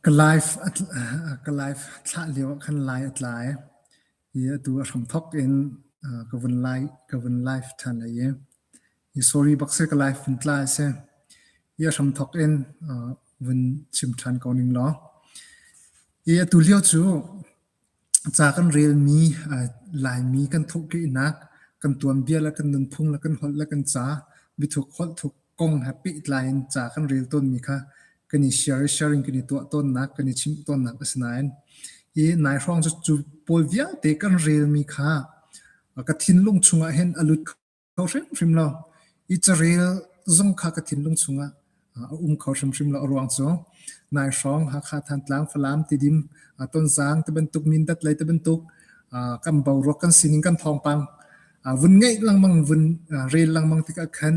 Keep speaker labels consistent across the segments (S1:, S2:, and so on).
S1: Ka life thlah lio ah khan lai a tlai i atu a hramthok in ka vun live ṭhan ai i sorry bak sih ka life vun tla a si. Hi a hramthok in vun chim ṭhan ko ning law. I atu lio cu Ca kan relmi, Laimi kan thawhkehnak, kan tuanbia le kan nunphung le kan holh le kan ca, biathuk holh thuk kong he pehtlai in ca kan rel tawnmi kha kan i share i sharing kan i tuah tawnnak, kan i chimh tawnnak a si nain hi nai hrawng cu cu pawl vialte kan relmi kha ka thinlung chungah hin a lut kho. kho hrimhrim lo. I carel zung kha ka thinlung chungah a um kho hrimhrim lo a ruang cu nai hrawng Hakha Thantlang Falam tidim Tonzang te bantuk Mindat lei te bantuk kan bo ruak kan sining kan thawngpang vun ngeih langmang vun rel langmang tikah khan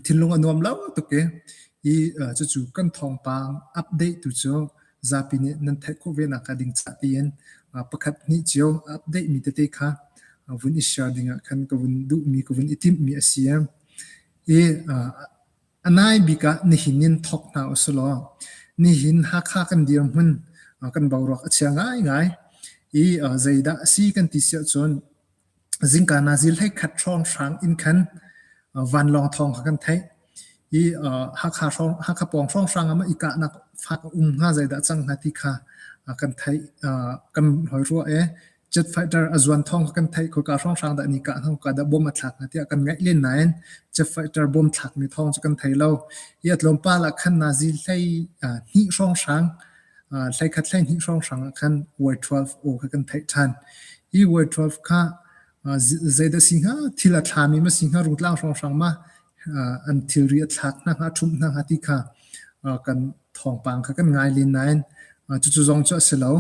S1: thinlung a nuam lo tuk i i cucu kan thawngpang update tu cu zapi nih nan theih khawh ve nak hnga ding cah tiin pakhat hnih cio update mi tete kha vun i share ding ah khan ka vun duhmi ka vun i timhmi a si i a nai bik ah nihin in thawk hna usih law nihin Hakha kan dirhmun kan boruak a chia ngai ngai i zeidah a si kan ti siah cun zingka na zil hleikhat hrawnghrang in khan vanlawng thawng kha kan theih i Hakha hrawng Hakha pawng hrawnghrang ah mah i kahnak fak a um hnga zeidah cang hnga ti kha kan theih kan hoi rua e jet fighter a zuan thawng kha kan theih khoika hrawnghrang dah ni kah hnga khoika dah bom a thlak hnga tiah kan ngaih len nain jet fighter bom thlakmi thawng cu kan thei lo hi a tlawmpal ah khan na zil hlei hnih hrawnghrang Hleikhat hleihnih hrawnghrang ah khan Y12 aw kha kan theih ṭhan. Hi Y12 kha zeidah a si hnga? Thil a thlami ma si hnga? Rutlang hrawnghrang ma? An thilri a thlak hna hnga? A ṭhumh hna hnga? ti kha kan thawngpang kha kan ngai len nain cucu zong cu a si lo.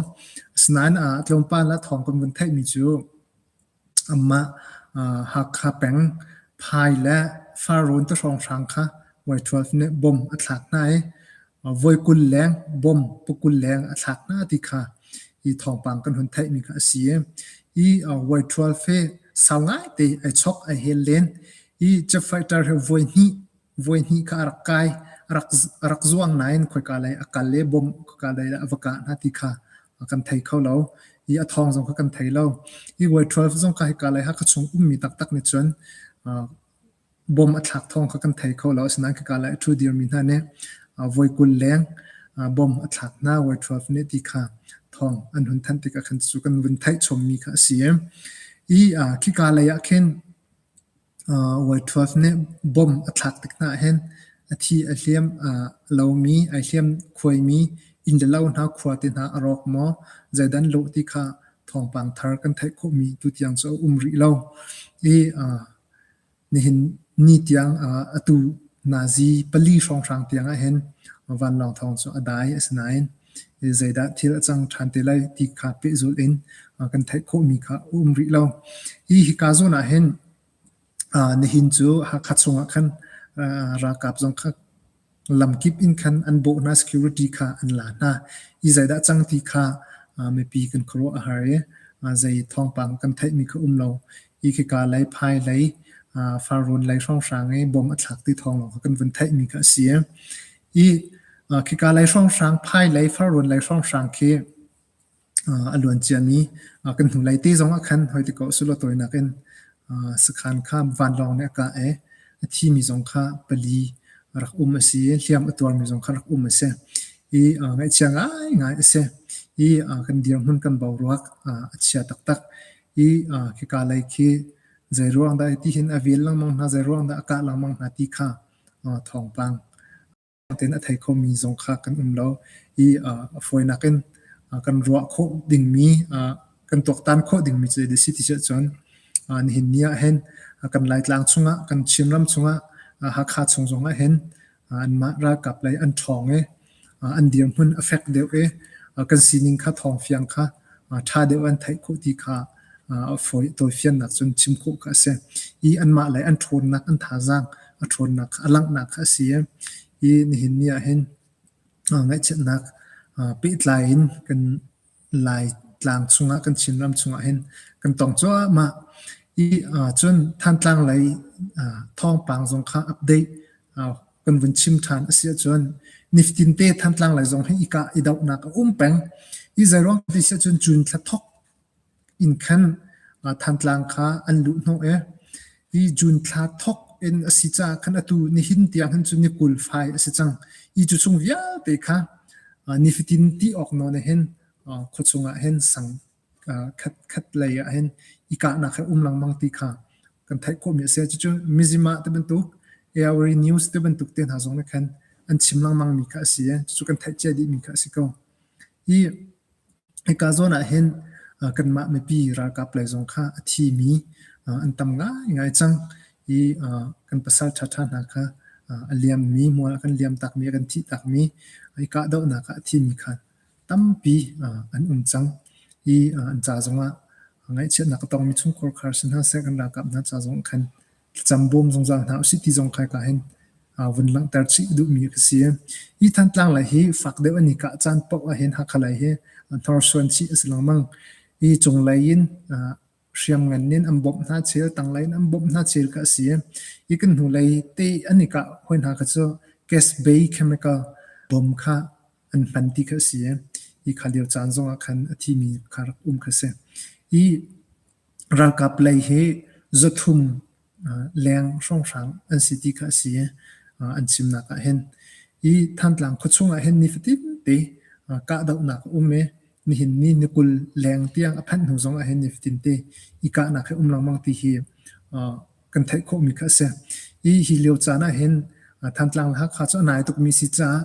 S1: Asinain tlawmpal ah thawng kan vun theihmi cu Amah Hakha peng Phai le Farrawn te hrawnghrang kha Vuaithual nih bom a thlak hna i voi kul leng bom pukul leng a thlak hna ti kha hi thawngpang kan hun theihmi kha a si. Hi Vuaithual fe sau ngaite ai chok ai hel len i cefaiṭar he voi hnih Voihnih kha a rak kai. A rak, a rak zuang nain khoika lei a kal i bawmh khoika lei dah a va kah hna ti kha kan thei kho lo. I a thawng zong kha kan thei lo. I World 12 zong kha hika lei Hakha chung ummi taktak nih cun bawm a thlak thawng kha kan thei kho lo. Asinain khika lei a ṭhu dirmi hna nih voi kul leng bawm a thlak hna World 12 nih ti kha thawng an hun thanh tikah khan cucu kan vun theih chawmmi kha a si. I khika lei ah khin Whitworth nih bomb a thlak tik hna ahhin a thi a hliam a lomi, ai hliam khuaimi inn le lo hna, khua te hna a rawk maw? Zeidan lawh ti kha thawngpang thar kan theih khawhmi tutiang cu a um rih lo. I nihin ni tiang atu Nazi pali hrawnghrang tiang ahhin vanlawng thawng cu a dai. Asinain zeidah thil a cang ṭhan te lai ti kha pehzulh in kan theih khawhmi kha a um rih lo. Hi hika zawn ah hin nihin cu Hakha chungah khan ralkap zong kha lamkip in khan an bawh hna security kha an la hna i zeidah cang ti kha mipi kan khuaruah a har i zei thawngpang kan theihmi kha um lo i khika lei phai lei farrawn lei hrawnghrang i bom a thlak ti thawng lawng kha kan vun theihmi kha a si Khika lei hrawnghrang, phailei, farrawn lei hrawnghrang khi a luan ciami kan hnulei te zong ah khan hoiti ko sulaw tawinak in sakhan kha vanlawng nih a kah i a thimi zong kha pali rak um a si i hliam a tuarmi zong kha rak um a si. I ngaihchia ngaingai a si. I kan dirhmun kan boruak a chia taktak. I khika lei khi zeiruang dah ti hin a vel lengmang hna, zeiruang dah a kah lengmang hna ti kha thawngpang tein a thei khomi zong kha kan um lo i a fawinak in kan ruah khawh dingmi kan tuaktan khawh dingmi cu a si ti cu cun nihin ni ahhin kan Laitlang chungah kan Chinram chungah Hakha chung zong ahhin anmah ralkap lei an ṭhawng i an dirhmun a fek deuh i kan sining kha thawngfiang kha ṭha deuh an theih khawh ti kha tawifiannak cun chim khawh kha a si. I anmah le an ṭhawnnak, an thazaang a ṭhawnnak kha a langhnak kha a si i i nihin ni ahhin ngaihchiatnak pehtlai in kan Laitlang chungah kan Chinram chungah hin kan tong cuahmah i cun Thantlang lei thawngpang zong kha update kan vun chim ṭhan a si ahcun niftinte Thantlang lei zong hi i kah i dohnak a um peng. Hi zeiruang ti si ahcun June thla thawk inn khan Thantlang kha an luh hnawh i i June thla thawk in a si caah khan atu nihin tiang khan cu ni kul fai a si cang i cu chung vialte kha nifatin ti awk nawn ah hin khuachung ah hin sang khat khat lei ah hin i kahnak he um lengmang ti kha kan theih khawhmi a si cucu mizima te bantuk AORI News te bantuk te hna zong nih khan an chim lengmang mi kha a si cucu kan theih cia dih mi kha a si ko i Hika zawn ah hin kanmah mipi ralkap lei zong kha a thimi an tam ngaingai cang i kan pasal ṭhaṭha hna kha a liammi, hmual a kan liamtakmi, a kan thihtakmi, i kahdohnak ah a thimi kha tampi an um cang i an ca zongah ngaihchiatnak a tongmi chungkhar khar si hna seh, kan ralkap hna ca zong khan. thlacam bawm zungzal hna usih ti zong khai ka hin vun langhter chih duhmi ka si. Hi Thantlang lai hi fak deuh an i kah caan paoh ahhin Hakha lai hi hnorsuan chih a si lengmang. Hi cunglei in hriamngan in an bawmh hna chel, tanglei in an bawmh hna chel ka si. Hi kan hnulei te an i kah hoi hna kha cu gas bay chemical bawm kha an hman ti kha a si i hi kha lio caan zongah khan a thimi kha rak um kha a si. I ralkap lei hi zuthum leng hrawnghrang an si ti kha a si i an chimnak ah hin i Thantlang khuachung ah hin nifatin te kahdohnak a um i nihin ni ni kul leng tiang a phanh hnu zongah hin nifatin te i kahnak hi um lengmang ti hi kan theih khawhmi kha a si. I hi lio caan ah hin Thantlang le Hakha cu a nai tukmi si caah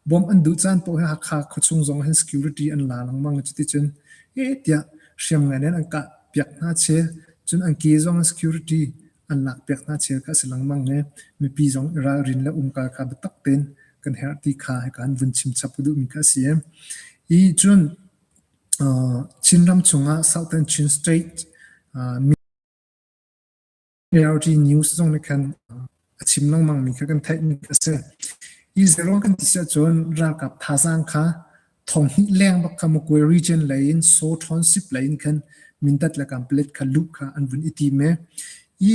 S1: bawmh an duh caan paoh hi Hakha khuachung zong hin security an la lengmang i cuticun heh tiah hriamngan in an kah piak hna chih i cun an ke zong in security an lak piak hna chih kha a si lengmang i mipi zong i ralrin le umkal kha biatak tein kan herh ti kha hika an vun chim chap duhmi kha a si. I cun Chinram chungah Southern Chin State ARG News zong nih khan a chim lengmang mi kha kan theih mi a si. Hi zero kan ti si ahcun ralkap thazaang kha thong hnih leng bak kha Mukwe region lei in So Township lei in khan Mindat le Kampelet kha luh kha an vun i tim e. I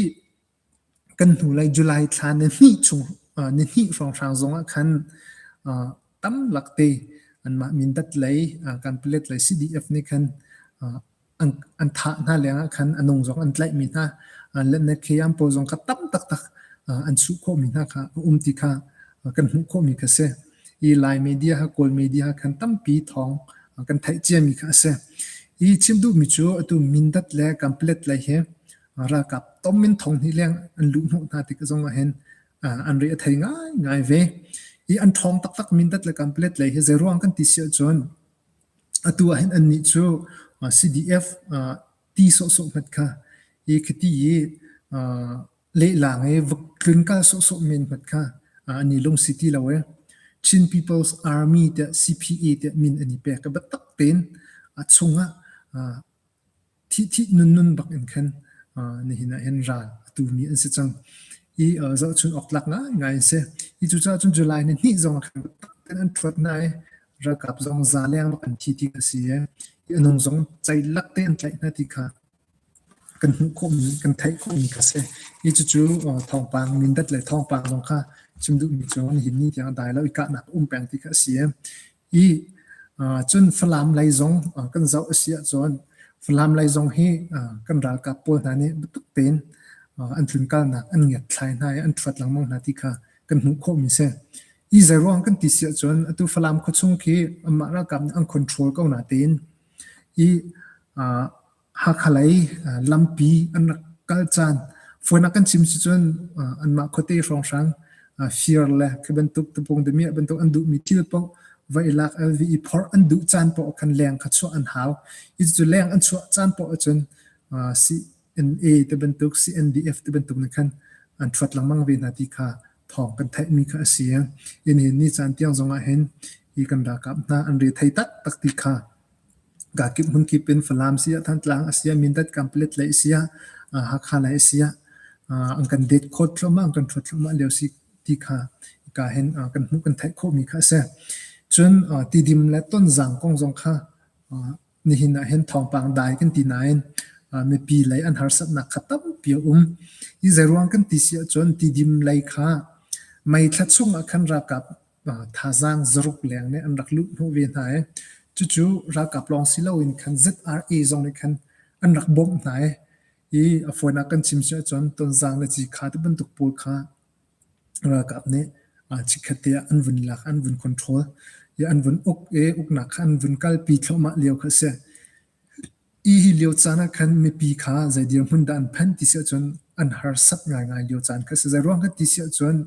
S1: kan hnu lei July thla ni hnih chung ni hnih hrawng hrang zong ah khan tam lak te anmah Mindat lei Kampelet lei CDF nih khan an thah hna lengah khan a nung zong an tlaihmi hna letnak heyam pawl zong kha tam taktak an suh khawhmi hna kha a um ti kha kan hmuh khawhmi kha a si. Hi Lai media ha Kawl media ha khan tampi thawng kan theih ciami kha a si. Hi chim duhmi cu atu Mindat le Kamplet le hi ralkap tom min thong hni leng an luh hnawh hna tik zong ah hin an ri a thei ngai ngai ve. Hi an thawng taktak Mindat le Kamplet le hi zeiruang kan ti si ahcun Atu ahhin annih cu CDF ti sawhsawh hmanh kha khiti i lehlang i vok tlun kal sawhsawh men hmanh kha an i lungsi ti lo i Chin People's Army tiah CPA tiah min an i pek i biatak tein a chungah thihthih nunnun bakin khan nihin ah hin ral a tumi an si cang. I zohchun awk tlak ngaingai an si. Hi cucaah cun July ni hnih zong khan an thuat hna i ralkap zong za leng bak an thi ti a si i anung zong ceilak te an tlaih hna ti kha kan hmuh khawhmi kan theih khawhmi ka si. Hi cucu thawngpang Mindat le thawngpang zong kha chim duhmi cu nihin ni tiang dai lo i kahnak um peng ti kha a si. Cun Falam lei zong kan zoh a si ahcun Falam lei zong hi kan ralkap pawl hna nih biatak tein an tlunkalnak an ngiatthlai hna i an thuat lengmang hna ti kha kan hmuh khawhmi a si. Hi zeiruang kan ti si ahcun atu Falam khuachung khi anmah ralkap nih an control ko natein hi Hakha lei lampi an rak kal caan fawinak kan chim si cun anmah khuate hrawnghrang fir le khi bantuk tapung damiah bantuk an duhmi thil paoh va i lak el vi i phorh an duh caan paoh khan leng kha chuah an hau. Hi cu leng an chuah caan paoh ahcun CNA te bantuk CNDF te bantuk nih khan an thuat lengmang ve hna ti kha thawng kan theihmi kha a si. Inn hin ni caan tiang zongah hin hi kan ralkap hna an re thei taktak ti kha Kaa kip hmunkip in Falam siah, Thantlang a siah, Mindat kam palet lei a siah, Hakha lei a siah an kan date khawt thluahmah, an kan ṭhuat thluahmah lio si ti kha kaa hin kan hmuh, kan theih khawhmi kha a si. Cun tidim le tonzang kong zong kha nihin ah hin thawngpang dai kan ti nain mipi lei an harsatnak kha tampi a um. Hi zeiruang kan ti si ahcun tidim lei kha May thla chung ah khan ralkap thazaang zaruk leng nih an rak luh hnawh ve hna i cucu ralkap lawng si loin khan ZRA zong nih khan an rak bawmh hna i i a fawinak kan chim si ahcun tonzang le cikha te bantuk pawl kha ralkap nih chikkhat te ah an vun lak an vun control i an vun uk i uknak kha an vun kalpi thluahmah lio kha a si i hi lio caan ah khan mipi kha zei dirhmun dah an phanh ti si ahcun an harsat ngaingai lio caan kha a si zei ruang kha ti si ahcun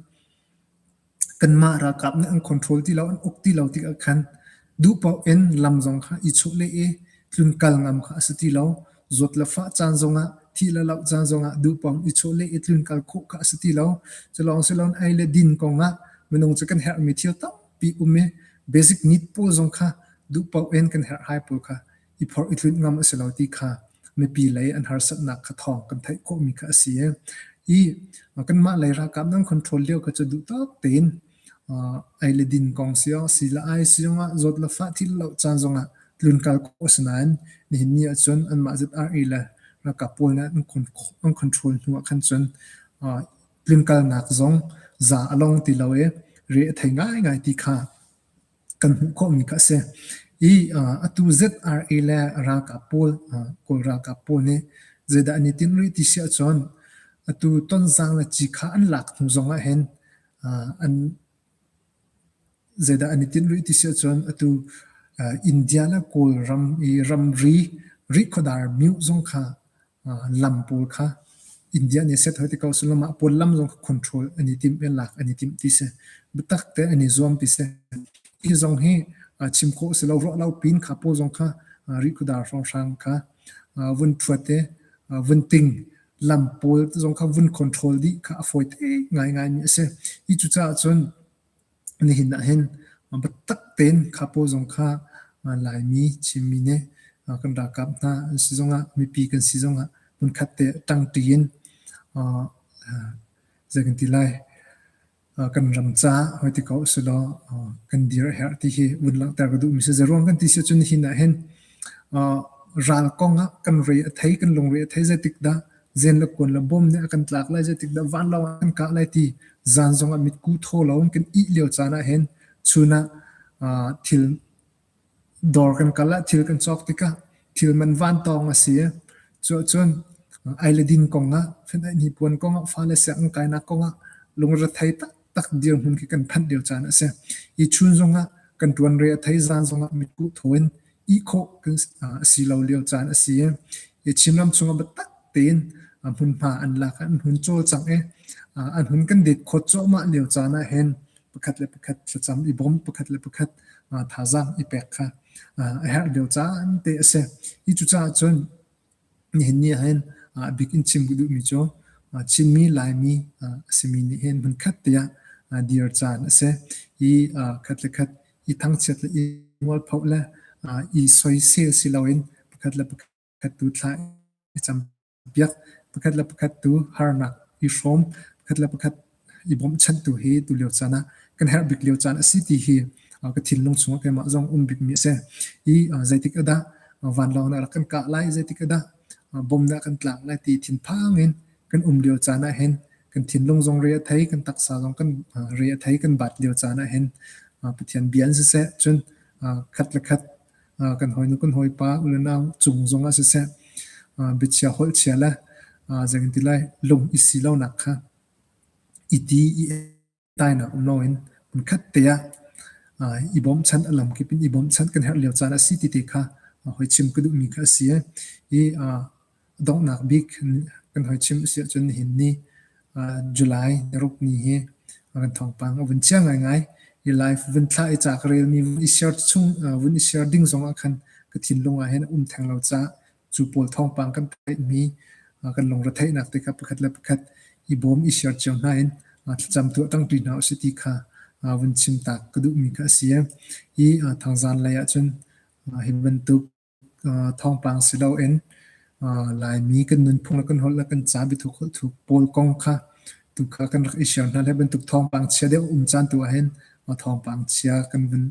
S1: Kanmah ralkap nih an control ti lo, an uk ti lo tikah khan duh paoh in lam zong kha i chuh leh i tlun kal ngam kha a si ti lo. Zawt le fah caan zongah, thih le loh caan zongah duh paoh in i chuh leh i tlun kal khawh kha a si ti lo. Culawng si loin ei le din kongah minung cu kan herhmi thil tampi um i basic need pawl zong kha duh paoh in kan herh hai pawl kha i phorh i tlunh ngam a si lo ti kha mipi lei an harsatnak kha thawng kan theih khawhmi kha a si. I kanmah lei ralkap nan control lio kha cu duhtak tein ai le din kong siang, si le ai siang ah zawt le fah thil lo caan zongah tlunkal khawh a si nain nihin ni ahcun anmah ZRE le ralkap pawl nih an control hnu ah khan cun tlunkalnak zong za a long ti lo i re a thei ngaingai ti kha kan hmuh khawhmi kha a si. I atu ZRA le ralkap pawl, Kawl ralkap pawl nih zeidah an i tinh rih ti si ahcun, atu Tonzang le Cikha an lak hnu zong ahhin an zeidah an i tinh rih ti si ahcun, atu India le Kawl ram i ramri rihkhawdar myoh zong kha lam pawl kha India nih a set hoi te ko sulaw mah pawl lam zong kha control an i timh in lak an i timh ti si. Biatak te an i zuam ti si. Hi zong hi chim khawh si lo ruah lo pin kha pawl zong kha rihkudar hrawnghrang kha vun phuat te vun ting lam pawl zong kha vun control dih kha a fawi te ngaingai mi a si. Hi cucaah cun Nihin ah hin biatak tein kha paw zong kha Laimi Chinmi nih kan ralkap hna an si zongah mipi kan si zongah hmunkhat te ṭangṭi in zei kan ti lai kan ram caah hoi ti ko usihlaw kan dir a herh ti hi vun langhter ka duhmi si. Zeiruang kan ti si ahcun nihin ah hin ral kong ah kan rui a thei, kan lungre a thei. Zeitik dah Zen le kuan le bawm nih a kan tlak lai, zeitik dah vanlawng ah kan kah lai ti zan zong ah mitku thaw lo in kan ih lio caan ah hin chun ah uh, thil dawr kan kal ah thil kan cawk tikah thil man van tawng a si. Cu ahcun ai le din kong ah, fan ai ni puan kong ah, fa le siang kainak kong ah lungre thei tak tak dirhmun khi kan phanh lio caan a si. Hi chun zongah kan tuanre a thei zaan zongah mitkuh thoin ihkhawh kan a si lo lio caan a si. Hi Chinram chungah biatak tein hmunhma an lak, an hmun cawlcang i an hmun kan dek khawt cuahmah lio caan ah hin pakhat le pakhat thlacam i bawm pakhat le pakhat thazaang i pek kha a herh lio caan te a si. Hi cucaah cun Nihin ni ahhin abik in chim ka duhmi cu Chinmi, Laimi a simi nih hin hmunkhat te ah dir caan a si. Hi khat le khat i thangchiat le i mualphoh le i soisel si loin pakhat le pakhat tu thla i campiak, pakhat le pakhat tu harnak i hrawm, pakhat le pakhat i bawmhchantu hi tulio caan ah kan herh bik lio caan a si ti hi ka thinlung chungah keimah zong um bikmi a si. I zeitik a dah vanlawng nih a rak kan kah lai, zeitik a dah bom nih a kan tlak lai ti thinphang in kan um lio caan ah hin kan thinlung zong re a thei, kan taksa zong kan re a thei, kan bat lio caan ah hin Pathian bia in siseh, cun khat le khat kan hawinu kan hawipa ununau cung zongah siseh biachia holhchia le zeitintilai lung i si lonak kha i ti i tainak um loin hmunkhat te ah i bawmchanh a lam kip in i bawmchanh kan herh lio caan a si ti te kha hoi chim ka duhmi kha a si. Hi donghnak bik kan hoi chim a si ahcun nihin ni July naruk ni hi kan thawngpang a vun chia ngaingai. Hi live vun thlah i ca ka relmi vun i share chung vun i share ding zongah khan ka thinlung ah hin a um theng lo caah cu pawl thawngpang kan theihmi kan lungretheihnak te kha pakhat le pakhat i bawm i share cio hna in thlacam tu tangpi hna usih ti kha vun chim tak ka duhmi kha a si hi thangzan lei ahcun hi bantuk thawngpang si loin laimi kan nunphung le kan holh le kan ca biathuk holh thuk pawl kong kha tu kha kan rak i share hna le bantuk thawngpang chia deuh um caan tu ahhin thawngpang chia kan vun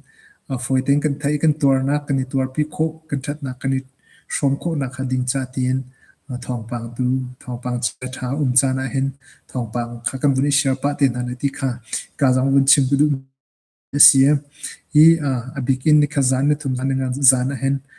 S1: fawi tein kan theih kan tuarnak kan i tuarpi khawh kan thatnak kan i hrawm khawhnak hnga ding cah tiin thawngpang tu thawngpang chia ṭha a um caan ahhin thawngpang kha kan vun i share pah te hna lai ti kha ka zong vun chim ka duh a si i a bik in ni kha zan ni thum zan ni ngan zan ahhin